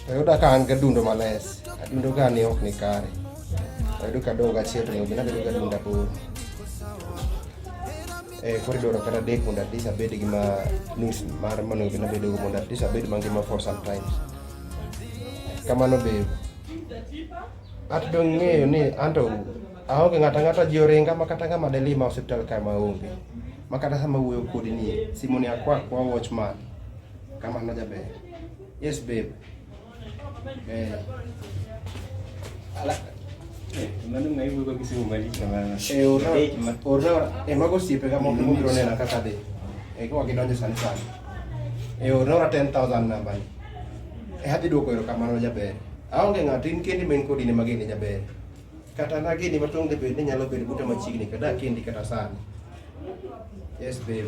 Ayuda ka an gadundo males. Adundo ka ni ok ni kare. Ayudo ka dog achiel to ng'obi nabedo ga dunda bor. Eh, kori doro kata dek mondo at least abed gi ma nus mar mondo ng'obi nabedo go mondo at least abed mangima for some time. Kamano be. At dong ng'eyo ni anto aonge ng'ata ng'ata ji oringa ma kata ng'ama delima osiptal ka ma onge. Ma kata sama wuoyo kodi ni simoni akwa kwa watchman. Kama no jabe. Yes babe. Eh. Ala. Eh, mano ngai wugo kisi umali kamana. Eh, ora. Ora, eh mago sipe kama mo mo grone na kaka de. Eh, kwa kidonje sana sana. Eh, ora 10000 namba. Eh, hadi doko ero kama no jabe. Aonge ng'ato in kendi men kodi ne magene jabe. Kata nageni matong' de bende nyalo bedo buta machiegni kada kendi kata sani. Yes babe.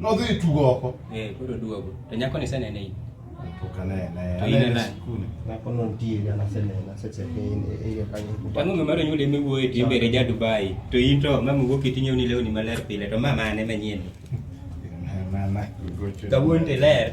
Nodhi tugo oko. Eh, koro duogo. To nyako ni senene in. Pok anene. To in anene. Nyako no nitie jana senena seche ke in e yo kanyo. Tango ng'ama ro nyule miwuoye ti mbere ja Dubai. To in to mama wuok itinyo ni lewni maler pile to mama ane manyien. Mama. Kawuono ler.